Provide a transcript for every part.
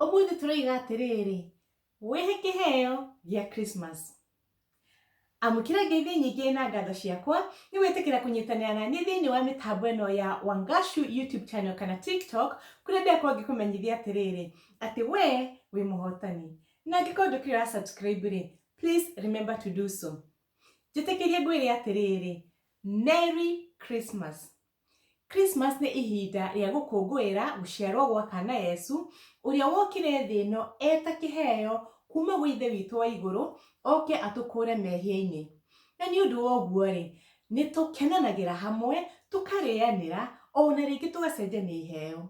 ũmũthĩ tũroiga atĩrĩrĩ wĩhe kĩheo gĩa Christmas Amũkĩra Ngai thĩ nyingĩ na ngatho ciakwa nĩ gwĩtĩkĩra kũnyitanĩra na niĩ thĩinĩ wa mĩtambo ĩno ya Wangashu YouTube channel kana TikTok kũrĩa ndĩrakorwo ngĩkũmenyithia atĩrĩrĩ atĩ we wĩ mũhotani. Na angĩkorwo ndũkĩrĩ wa subscribe rĩ, please remember to do so. Njĩtĩkĩrie ngwĩre atĩrĩrĩ, Merry Christmas. Christmas nĩ ihinda rĩa gũkũngũĩra gũciarwo gwa kana Yesu, ũrĩa wokire thĩ ĩno e ta kĩheo kuuma gwĩ Ithe witũ wa igũrũ, oke atũkũũre mehia-inĩ. Na nĩ ũndũ wa ũguo-rĩ, nĩ tũkenanagĩra hamwe, tũkarĩanĩra, o na rĩngĩ tũgacenjania iheo.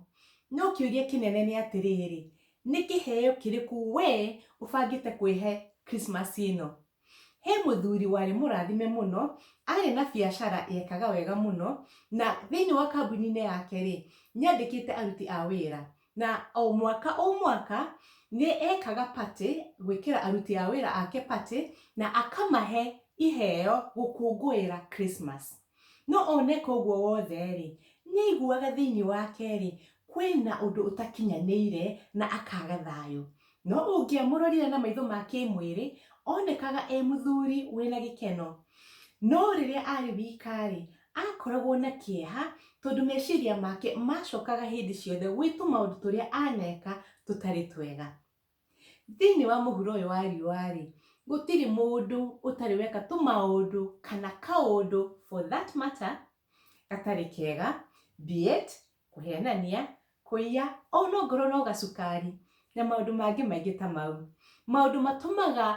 No kĩũria kĩnene nĩ atĩrĩrĩ, nĩ kĩheo kĩrĩkũ wee ũbangĩte kwĩhe Christmas ĩno? He mũthuri warĩ mũrathime mũno, arĩ na biacara yekaga wega mũno, na thĩinĩ wa kambuni-inĩ yake rĩ, nĩ andĩkĩte aruti a wĩra. Na o mwaka o mwaka nĩ ekaga party, gwĩkĩra aruti a wĩra ake party, na akamahe iheo gũkũngũĩra Christmas. No o neka ũguo wothe-rĩ, nĩaiguaga thĩinĩ wake-rĩ, kwĩ na ũndũ ũtakinyanĩire na akaaga thayũ. No ũngĩamũrorire na maitho ma kĩĩmwĩrĩ, oonekaga e mũthuri wĩ na gĩkeno. No rĩrĩa aarĩ wika-rĩ, aakoragwo na kĩeha tondũ meciria make maacokaga hĩndĩ ciothe gwĩ tũmaũndũ tũrĩa aaneka tũtarĩ twega. Thĩinĩ wa mũhuro ũyũ wa riũa-rĩ, gũtirĩ mũndũ ũtarĩ weka tũmaũndũ kana kaũndũ for that matter gatarĩ kega, be it kũhenania, kũiya, ona ongorwo no gacukari na maũndũ mangĩ maingĩ ta mau. Maũndũ matũmaga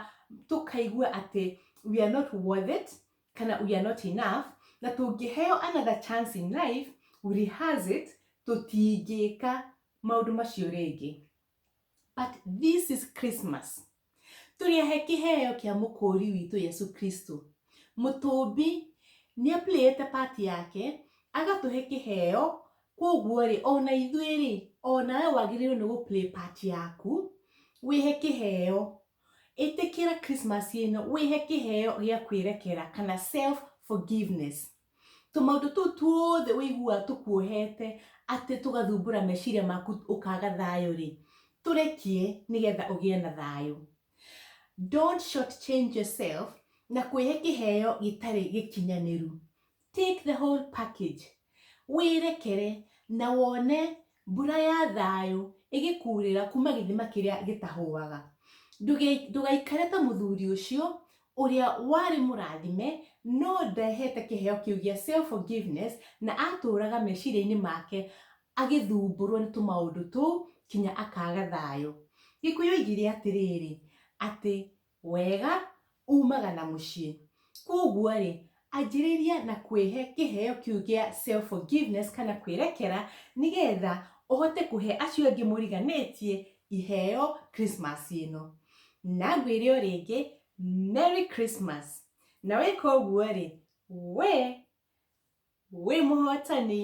tũkaigua atĩ we are not worth it kana we are not enough na tũngĩheo another chance in life, rehearse it, tũtingĩka maũndũ macio rĩngĩ. But this is Christmas. Tũrĩahe kĩheo kĩa mũkũũri witũ Yesu Kristo. Mũtũũmbi nĩ aplayĩte part yake, agatũhe kĩheo, kwoguo-rĩ, ona ithuĩ-rĩ, ona we wagĩrĩirwo nĩ gũ-play part yaku, wĩhe kĩheo. Ĩtĩkĩra Christmas ĩno, wĩhe kĩheo gĩa kwĩrekera kana self forgiveness. tũmaũndũ tũu tuothe ũiguaga tũkuohete atĩ tũgathumbũra meciria maku ũkaga thayũ rĩ tũrekie nĩgetha ũgĩe na thayũ don't short change yourself na kwĩhe kĩheo gĩtarĩ gĩkinyanĩru take the whole package wĩrekere na wone Mbura ya thayũ ĩgĩkuurĩra kuuma gĩthima kĩrĩa gĩtahũaga. Ndũgaikare ta mũthuri ũcio ũrĩa warĩ mũrathime no ndehete kĩheo kĩu gĩa self forgiveness na atũũraga meciria-inĩ make agĩthumbũrũo nĩ tũmaũndũ tũu kinya akaaga thayũ. Gĩkũyũ oigire atĩrĩrĩ, atĩ Wega uumaga na mũciĩ. Kwoguo-rĩ, anjĩrĩria na kwĩhe kĩheo kĩu gĩa self forgiveness kana kwĩrekera nĩgetha ũhote kũhe acio angĩ mũriganĩtie iheo Christmas ĩno. Na ngwĩre o rĩngĩ, Merry Christmas. Na weka ũguo-rĩ, wee wĩ mũhotani.